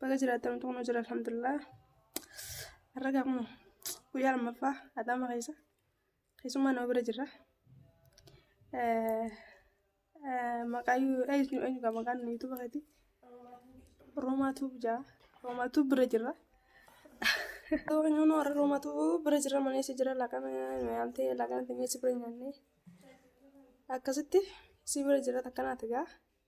Baga jiraattan utuu nu jira alhamdulillah. Har'a gaa kunoo guyyaa lammaffaa Adaama keessa keessummaa nama bira jirra. Eh, eh, Maqaa yu- eenyu eenyu gaa maqaan yuutuuba keetii? Roomaa Tuub jaa. Roomaa Tuub bira jirra. Yoo keenyaa nu warra Roomaa Tuub bira jirra manee si jira laaqana nyaamtee laaqana teenyee si bira nyaannee. Akkasitti si bira jira takka naati gaa.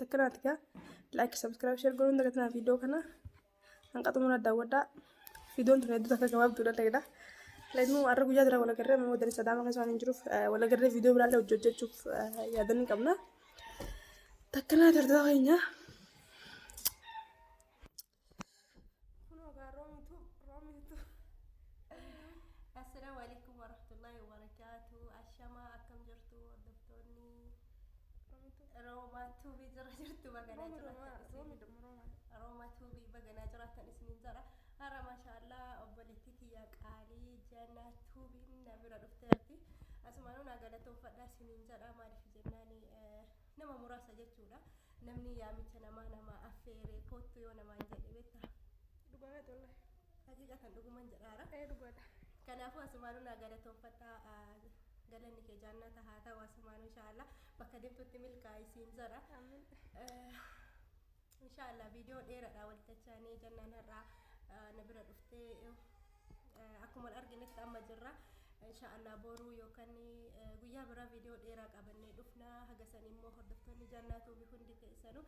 Takkiraa tikaa laayik sabskiraayib sheer godhuun dagatinaa viidiyoo kana hanqa xumura daawwadhaa viidiyoon tun hedduu takka gabaabduudha ta'edha. Laimuu har'a guyyaa jira walagarree amma wadani sadaama keessa waan hin jiruuf walagarree viidiyoo biraallee hojii hojjechuuf yaadanii qabna. Takkanaa tartaa keenyaa. Kunoo gaa roomitu roomitu. Assalaamu alaikum warahmatullahi wabarakaatu. Ashamaa akkam jirtu hordoftoonni Roomitu. Roomaa tuubii jira jirtu baganaa Roomi jiraatan roomaa isin. roomi dhuma roomaa. Roomaa tuubii baganaa jiraatan isiniin jira. Hara maashaallah obboleettii tiyya qaalii jannaa tuubiin na bira dhufteerti. Asumaanuu naa galatoomfadha isiniin jedha maaliif jennaan eh, Nama muraasa jechuudha. Namni yaamicha namaa namaa affeeree koottu yoo namaan jedhe beektaa? Dhugaa keeti wallahi. Haqiiqatan dhuguman jedhaara. Ee dhugaadha. Kanaafuu asumaanuu naa galatoonfadhaa ah, galanni kee jaannata haa ta'u asumaanuu inshaallah bakka deemtutti milkaa'i siin jara. Amiin. Eh, insha allah viidiyoo dheeradha waltachaanii jannaan har'aa eh, na bira dhuftee eh, akkuma wal arginetti amma jirra insha allah boruu yookaan eh, guyyaa biraa viidiyoo dheeraa qabannee dhufna haga san immoo hordoftoonni jannaatuu fi hundi keessanuu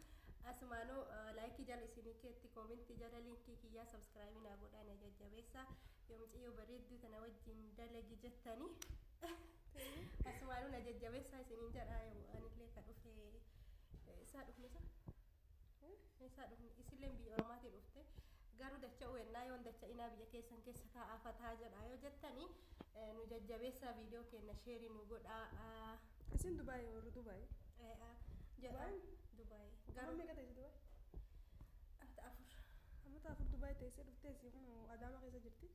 asumaanuu eh, laayikii jala isinii keetti koomentii jala liinkii kiyyaa sabskraayibii naa godhaa na jajjabeessa yoo mucayyoo bareedduu tana wajjin dalagi jettanii Asumaanuu na jajjabeessaa isiniin jedhaa yoo anillee ka dhufe isaa dhufne sun isaa dhufne isilleen biyya ormaatii dhufte garuu dacha uwennaa yoon dacha inaa biyya keessan keessa taa'aa fataa jedhaa yoo jettanii nu jajjabeessaa viidiyoo keenna sheerii nu godhaa. Isin Dubaay warri Dubaay. Jedhaa Dubaay. Garuu Garuu meeqa ta'e Dubaay? afur. Ammata afur Dubaay teessee dhuftee si kun Adaamaa keessa jirti.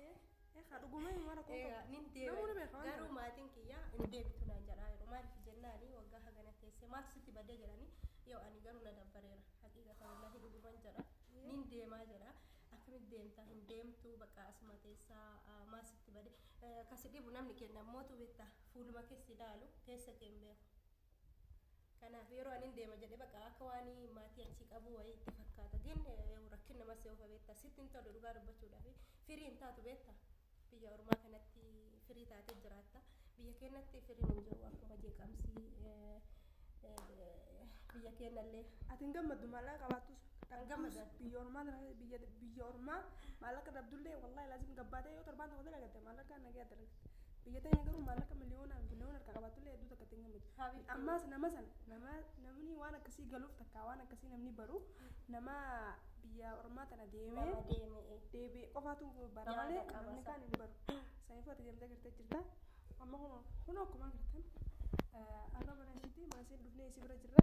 Eegaa dhugumee mara kun Egaa qabu. nin deema. Namuu ni beeka waan Garuu kana. maatiin kiyya hin deebitu naan jedhaa yeroo maaliif jennaani waggaa hagana teessee maaf sitti badee jedhani yoo ani garuu na dabbareera haqiiqa ta'ullahi dhuguman jedha nin deemaa jedha akkamitti deemtaa hin deemtu bakka asuma teessaa ah, maaf sitti badee Eh, kasi dhibu namni kenna mootu beektaa fuuluma keessi ilaalu keessa kee hin beeku. Kanaaf yeroo anin deema jedhe baqa akka waan maatii achii qabuu wayii itti fakkaata. Gin rakkin nama seefa beektaa sitti hin tolu dhugaa dubbachuudhaaf firii hin taatu beektaa. Biyya ormaa kanatti firii taatee jiraatta. Biyya keenyatti firiin hin jiru akkuma jeeqamsii biyya keenyallee. Ati hin gammaddu maallaqa qabaattus. Kan gammadan. Biyya ormaa biyya ormaa maallaqa dhabdullee wallaahi laazim gabbaatee yoo torbaan tokko dalagatte maallaqa nagee dalagatte. Biyya ta'een garuu maallaqa miliyoonaan biliyoona harkaa qabaatullee hedduu takka ittiin gammadu. Habiibti. Ammaas nama sana nama namni waan akkasii galuuf takka waan akkasii namni baru nama biyya ormaa tana deemee Nama deeme. eh. deebi'e qofaatu bara Yaada malee qaba namni isa. kaan hin baru. Saniifuu ati deemtee gartee jirta. Amma kunoo kunoo akkuma agartan eh, arra mana ishiitti mana isheen dhufnee isii bira jirra.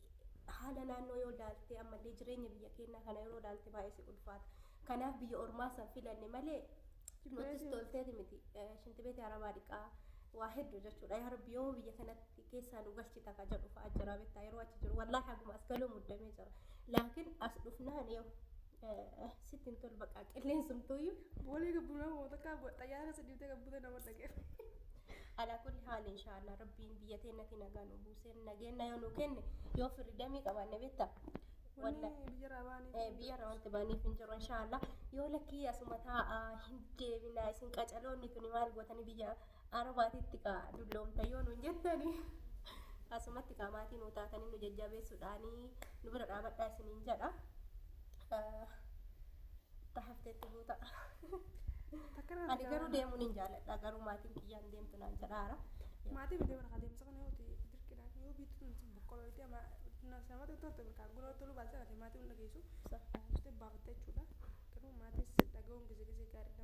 haala naannoo yoo ilaalte ammallee jireenya biyya keenyaa kana yeroo ilaalte baay'ee si ulfaata. Kanaaf biyya ormaa san filanne malee nutis tolteeti miti. Shinti beeti arabaa dhiqaa waa hedduu jechuudha. Yaa rabbi yoo biyya kanatti keessaa nu galchita ka jedhu fa'aa jira beektaa yeroo achi jiru. Wallaahi haguma as galuu muddamee jira. Laakiin as dhufnaan yoo Sitti hin tolu baqaa qilleensumtuuyyu. Boolee gabbunaa moo takkaa xayyaara keessa dhiibtee gabbutee nama dhaqee. Alaa kulli haali inshaallah rabbiin biyya teennatti nagaa nu buusee nageenya yoo nu kenne yoo firri damii qabaanne beekta. Wanni biyya irraa baaniif. Eh, biyya irraa wanti baaniif hin jiru inshaallah yoo lakkii asuma taa'aa hin deebinaa isin qacaloonni tuni maal gootanii biyya Arubaatitti kaa dulloomta yoo nuun jettani asumatti kaa maatii nuu taatanii nu jajjabeessuudhaanii nu bira dhaabadhaa isiniin jedha. Ta hafteetti buuta. Ani garuu deemuun hin jaaladha garuu maatiin kiyyaan deemtu naan jedhaara. Maatii bitee warra adeemsa kana yoo ta'e dirqidhaan yoo biitu tun sun boqqoloo itti ama namatti itti horte birkaan guna itti oluu baasee kana maatii hunda geessu baafte baafatte jechuudha. Garuu maatii dhaga'uun gizee gizee gaariidha.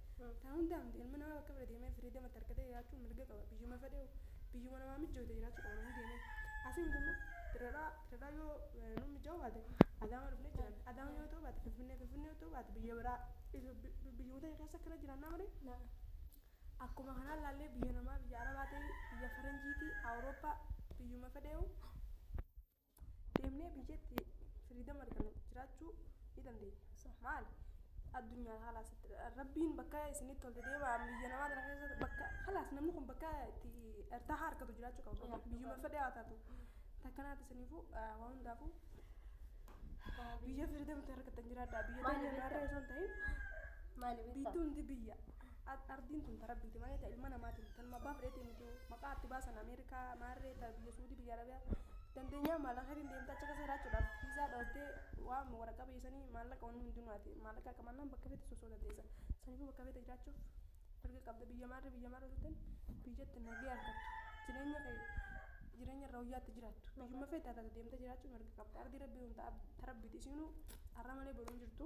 Sababtaa hundaaf ilmi namaa bakka fedhe deemee firii damatti argatee jiraachuuf mirga qaba. Biyyuma fedheehu, biyyuma namaa mijjoote jiraachuu qaba namni deemee. Asii miti immoo Dirredhawaa, Dirredhawaa yoo nuuf mijjaa'uu baate Adaamaa dhufnee jiraanna. Adaamaa yoo ta'uu baate Finfinnee, Finfinnee yoo ta'uu baate biyya biraa biyyuma teenya keessa akkana jiraannaa malee akkuma kanaa ilaallee biyya namaa, biyya Arabaa ta'ii, biyya Faranjiitii, Awurooppaa biyyuma fedheehu deemnee biyyatti firiidama arganne jiraachuu ni dandeenya. Maal? Addunyaan haala asitti rabbiin bakka isinitti toltu deemaa biyya namaa tana keessa bakka halaas namni kun bakka itti ertaa harkatu jiraachuu qaba. Biyyuma fedhee haa taatu. Takkanaati isiniifuu waan hundaafuu biyya firiidamatti argattan jiraadhaa. Biyya deemnee naarra osoo hin ta'in Maali biitti beektaa? hundi biyya. Ardiin tun ta Rabbiiti malee ta ilma namaati miti. Tanuma abbaa fedheetii miti. Maqaa ardi baasan Ameerikaa, Maarree, ta biyya Suudii, biyya Arabiyaa. Dandeenyaa maallaqatiin deemtee achi keessa jiraachuudhaaf viizaa dhooftee waan waraqaa biyya sanii maallaqa wanni hundinuu ati maallaqa qabannaan bakka feete soso'uu dandeessa. Saniifuu bakka feete jiraachuuf mirga qabda. Biyya maarree biyya maarree turtan biyyatti nagee argattu. Jireenya kee jireenya irra wayyaatti jiraattu. Biyyuma feete haa taatu deemtee jiraachuu mirga qabda. Ardii rabbii tun ta ta rabbiiti isiinuu har'a malee boru hin jirtu.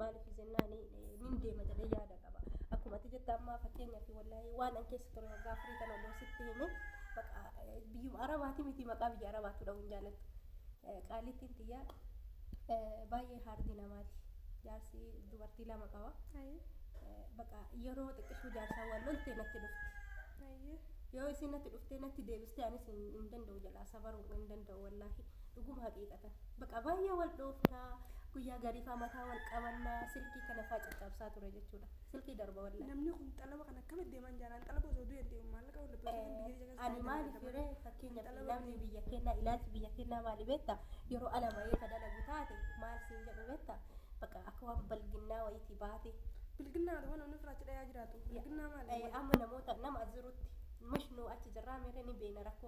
Maaliif jennaan nin deema jedhee yaada qaba. Akkuma ati jette ammaa fakkeenyaaf wallahi waan an keessa ture waggaa afurii kana odoo sitti hime maqaa biyyuma arabaati miti maqaa biyya arabaatu dha'uun jaalattu. Qaalittiin tiyya baay'ee haardii namaati. Jaarsi dubartii lama qaba. Baqa yeroo xiqqishuu jaarsaan wal lolte natti dhufti. Yoo isin natti dhuftee natti deebistee anis hin danda'u jalaa sabaruu hin danda'u wallaahi. dhuguma haqiiqatan baqa baay'ee wal dhoofna guyyaa gariifaa mataa wal qabanna silkii kana faa caccabsaa ture jechuudha silkii darba walla namni kun xalaba kan akkamitti deeman jaalaan xalaba osoo du'e deemu maallaqa wal dhabdee biyya jala ani maali fire fakkeenya namni biyya kennaa ilaalchi biyya kennaa maali beetta yeroo ala bahee ka dalagu taate maal siin jedhu beetta baqa akka waan balginnaa wayitii baate bilginnaa dhufa namni firaachi dhayaa jiraatu bilginnaa maali amma namoota nama jirutti mush nu achi jirraa meerre ni beena rakkoo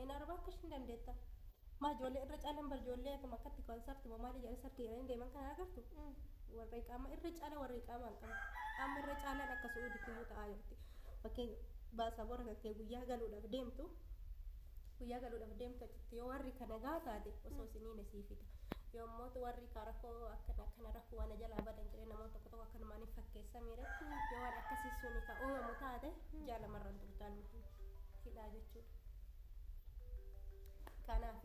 Een araba akka ishin dandeetta. Maa ijoollee irra caalan bar ijoollee akkam akkatti konsarti moo maal ijaan sarti jedhanii deeman kana agartu. Warra iqaamaa irra caala warra iqaamaa hin qabu. Amma irra caalaan akka su'uuditti iyyuu ta'aa jirti. Fakkeenya baasaboora kan kee guyyaa galuudhaaf deemtu guyyaa galuudhaaf deemtu achitti yoo warri kana gaa taate osoo isiniin sii fida. Yoo immoo warri kaa rakkoo akkana akkana rakkoo waan jalaa badan jedhee namoota tokko tokko akkanumaan hin fakkeessaa miire yoo waan akkasii suni ka uumamu taate jaalamarraan turtaan hidhaa jechuudha. Kanaaf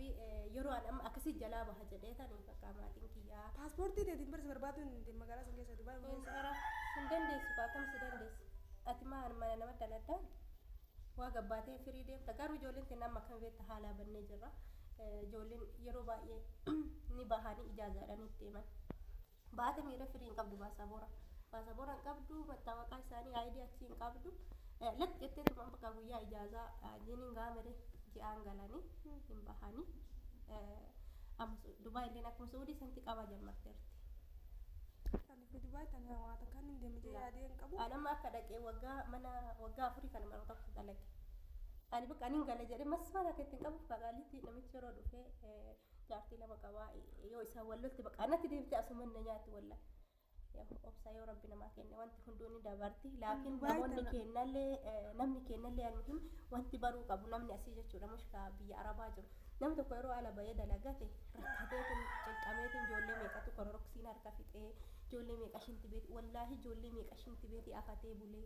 yeroo an amma akkasii jalaa baha jedhee tan hin fakkaa maatiin kiyyaa. Paaspoortii teetiin barsi barbaaduu hin dandeenya magaalaa san keessa Dubaay hin keessa. Bara hin dandeessu kaa akkam si dandeessu. Ati maan mana nama daladdaa waa gabbaatee firii deemta garuu ijoolleen teenna amma akkam beekta haalaa bannee jirra. Eh, Ijoolleen yeroo baay'ee ni bahanii ijaazaadhaan itti himan. Baate miira firii hin qabdu baasaboora. Baasaboora hin qabdu mattaawaqaa isaanii aayidii achii hin qabdu. Latti jettee tumaan bakka guyyaa ijaazaa jiin hin gaamere ji'aan galanii hin bahanii. Amma Dubaa illee akkuma Suudii santi qabaa jammarteerti. Ani fi Dubaay tana waa takkaan hin deeme jee yaadee hin qabu. Ani amma akka dhaqee waggaa mana waggaa afurii kana mana tokko dalage. Ani bakka ani hin gale jedhee masmaara keetti hin qabu fagaalitti namichi yeroo dhufee jaartii lama qabaa yoo isaan wal lolti baqaa natti deebite asuman na nyaatti walla obsa yoo rabbi namaa kenne wanti hunduu ni dabarti laakiin Dhugaa namoonni itti kennallee eh, namni kennallee almuhim wanti baruu qabu namni asii jechuudha mushkaa biyya arabaa jiru namni tokko yeroo ala bahee dalagate rakkateetiin cinqameetiin ijoollee meeqatu kororoksiin harka fixee ijoollee meeqa shinti beeti wallaahi ijoollee meeqa shinti beeti afatee bulee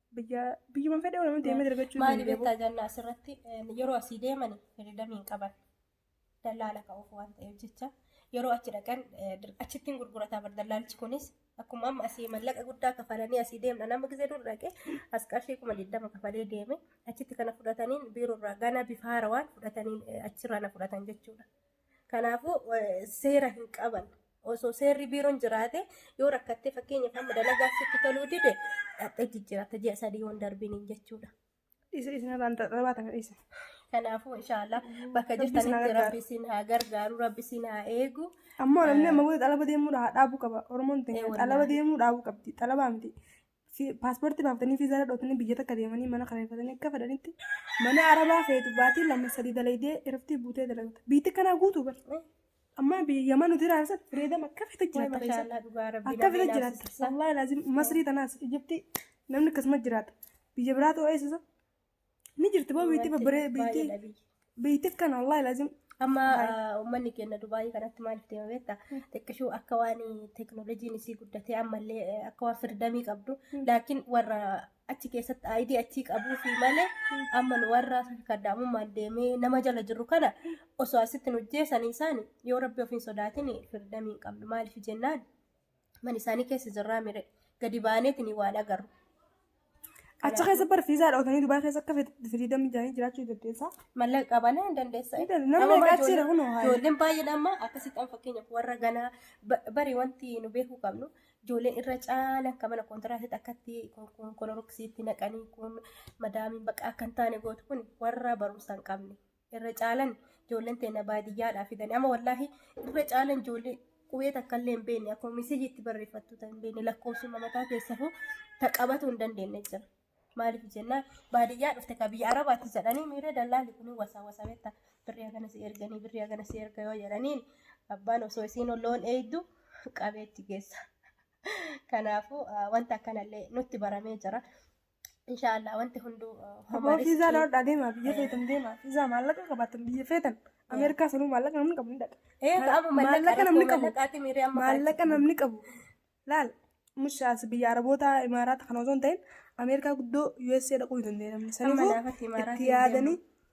Biyya biyyuma fedhe oromoo deemee dargachuu Maali danda'u. beektaa jannaa asirratti eh, yeroo asii deeman firidamii hin qaban. Dallaala ka'uuf waan ta'eef jecha yeroo achi dhaqan eh, dir- achittiin gurgurataa bar dallaalchi kunis akkuma amma asii mallaqa guddaa kafalanii asii deemna nama gisee dur dhaqe as qarshii kuma digdama kafalee deeme achitti kana fudhataniin biiroo irraa gana bifa haarawaan fudhataniin eh, achirraa na fudhatan jechuudha. Kanaafuu seera hin qaban. Osoo seerri biiroon jiraate yoo rakkattee fakkeenyaaf amma dalagaa sitti toluu dide dhaqxee jijjiiratta ji'a sadii yoon darbiniin jechuudha. Isa isa irraan xaxabaatan isa. Kanaafuu inshaallah bakka Rabbi isin haa jirtanitti gargaaru. rabbi isin haa gargaaru rabbi isin haa eegu. Ammoo namni amma booda xalaba deemuu dha- dhaabuu qaba. Oromoon Eh, ta'e wallahi. xalaba deemuu dhaabuu qabdi. Xalabaa miti. Paaspoortii baafatanii viizaa dhadhootanii biyya takka deemanii mana kareeffatanii akka fedhanitti mana arabaa feetu baatii lama sadii dalaydee irratti buutee dalagata. Biitti kanaa guutuu bar. Amma biyya mana nuti raarsan fireedam akka fete jiraata. Mashallah dhugaa rabbi. Akka fete jiraata. Wallahi laazim masrii tanaas Ijiptii namni akkasuma jiraata. Biyya biraa ta'uu eessisa. Ni jirti boo biitti babbaree biitti biitti akkana wallaahi laazim. Amma uummanni keenya Dubaayii kanatti maaliif deema beekta? Xiqqishuu akka waan teekinooloojiin isii guddatee ammallee akka waan firdamii qabdu. Laakiin warra achi keessatti aayidii achii qabuu fi malee amma nu warra kaddaamummaan deemee nama jala jirru kana osoo asitti nu jeesanii isaani yoo rabbi ofiin sodaatin firdamii hin qabnu maaliif jennaan man isaanii keessa jirraa mire gadi baaneetiin waan agarru. Achi keessa bara fiizaa dhootanii Dubaay keessa akka firiidam ijaanii jiraachuu dandeessaa. Mallaqa qabana hin dandeessa. Ni dandeessa. Namni egaa achi jira kunoo haala. Ijoolleen baay'een amma akkasitti fakkeenyaaf warra ganaa ba- bari wanti nu beekuu qabnu ijoolleen irra caala akka mana kontiraatitti akkatti kun- kun koloroksiitti naqanii kun madaamiin bakka akka hin taane gootu kun warra barumsa hin qabne irra caalan ijoolleen teenya baadiyyaadhaa fidan amma wallaahi irra caalan ijoollee qubee takka illee hin beekne akkuma misijii itti barreeffattu tan hin beekne lakkoofsuma mataa keessafuu ta qabatu hin dandeenye jira. Maaliif jennaan baadiyyaa dhufte ka biyya arabaatti jedhanii miira dallaalli kun wasaa wasaa beekta birrii hagana si erganii birrii hagana si erga yoo jedhaniin abbaan osoo isiin loon eegdu qabeetti geessa. Kanaafuu wanta akkanallee nutti baramee jira. Inshaallah wanti hunduu Aboo fiizaa loodhaa deemaa biyya feetan deemaa fiizaa maallaqa qabaatan biyya feetan Ameerikaa sanuu maallaqa namni qabu ni dhaqa. Ee maallaqa namni qabu maallaqa namni qabu laal mushaas biyya Arabootaa Imaaraata kana osoo hin ta'in Ameerikaa guddoo USA dhaquu hin dandeenye namni sanuu itti yaadanii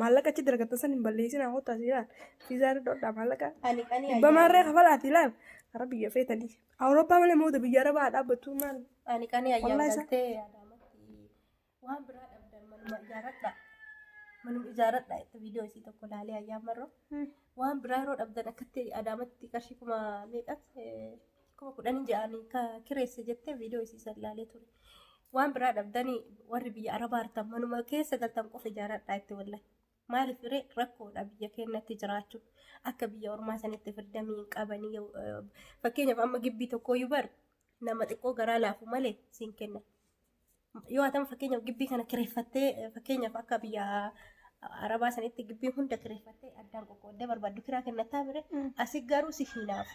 Maallaqa achi dargatan san hin balleessin haa kottaa siiraan. Fiizaa irra dhodhaa maallaqa. Ani qani Dhibba ayyaana. maarree kafalaati ilaal. Gara biyya feetanii. Awurooppaa malee mooda biyya arabaa haa dhaabbattu maal. Ani qani ayyaana Wallahi isa- galtee yaadaamatti waan biraa dhabdan manuma ijaaradha. Manuma ijaaradha itti viidiyoo isii tokko laalee ayyaan marroo. Waan biraa yeroo dhabdan akkatti adaamatti qarshii kuma meeqas eh, kuma kudhanii ja'anii ka kireesse jettee viidiyoo isii san ilaalee ture. Waan biraa dhabdanii warri biyya arabaa artan manuma keessa galtan qofa ijaaradhaa itti wallahi. Maaliif ree rakkoodha biyya keenyatti jiraachuu akka biyya ormaa sanitti firdamii hin qabanii yoo- eh, fakkeenyaaf amma gibbii tokkooyyuu bar nama xiqqoo garaa laafu malee siin kenna. Yoo atama fakkeenyaaf gibbii kana kireeffattee fakkeenyaaf akka biyya arabaa sanitti gibbii hunda kireeffattee addaan qoqqooddee barbaaddu kiraa kennattaa mire asi garuu si hiinaaf.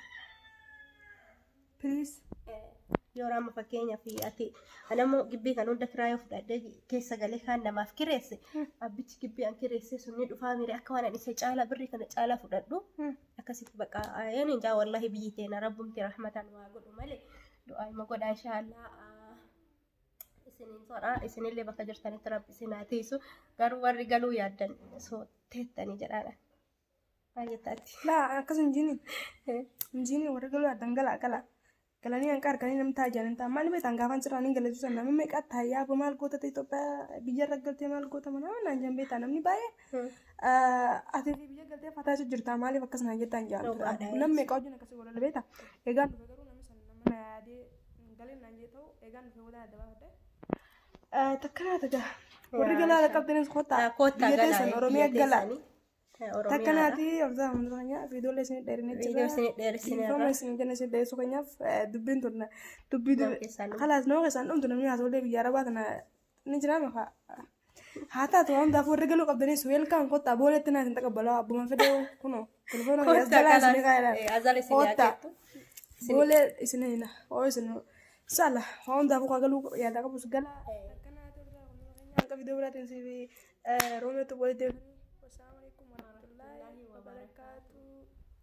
Please. Yoo amma fakkeenyaaf ati anammoo gibbii kan hunda kiraa yoo fudhadhee keessa galee kaan namaaf kireesse abbichi gibbii an kireesse sun ni dhufaa mire akka waan an isa caalaa birrii kana caalaa fudhadhu akkasitti baqa ayeen injaa wallahi biyyi teena rabbumti rahmataan waa godhu malee du'aa ima godhaa inshaallah. isiniin jedha isinillee bakka jirtanitti rabbi isin haa tiisu garuu warri galuu yaaddan osoo teettanii jedhaadha baay'ee taati Laa akkas hin jiini. Hin jiini warri galuu addan galaa galaa. Galanii hanqa arganii namni taa'aa jiran ta'a. Maal beektan gaafan cirraa niin galachuu sana namni meeqa taa'aa boo maal goota ta'e Itoophiyaa biyya irra galtee maal goota mana naan jan beektaa namni baay'ee. Ati fi biyya galtee fataa jechuu jirta maaliif akkas naan jettaan jaan. Dhugaadha. Namni meeqa wajjin akkasii walala beekta. Egaa dhuga garuu namni sana nama na yaadee Hin galin naan jee ta'u eegaan dhufee booda adda baafadhe. Takka naa taga. Warri galaa ala qabdanis kottaa. Koottaa Biyya galaa. teessan Oromiyaa galaa. Takka naati obsaa hunduu keenyaa viidiyoolee isin dheerinee jirra. Viidiyoo isin dheeressine irra. Dhiifama isin jenna isin dheeressuu keenyaaf eh, dubbiin turna. Dubbii Nama keessaan dhumtu. Kalaas nama keessaan dhumtu namni haasoolee biyya arabaa kana Ni jira maka. Haa taatu waan hundaaf warri galuu qabdanis weelkaan kottaa booletti naa isin taqabbalaa abbuma fedhee kunoo telefoona kiyya as jalaa isin kaa'eera. Azala isin Kottaa. yaadeettu. Boolee isin hina. Oo isin saala waan hundaaf kaa galuu yaadaa qabus galaa. Akkanaa turre hanga viidiyoo biraatiin siif roobeetu walitti deebiin. Wassalamu alaikum warahmatullahi wabarakatuh.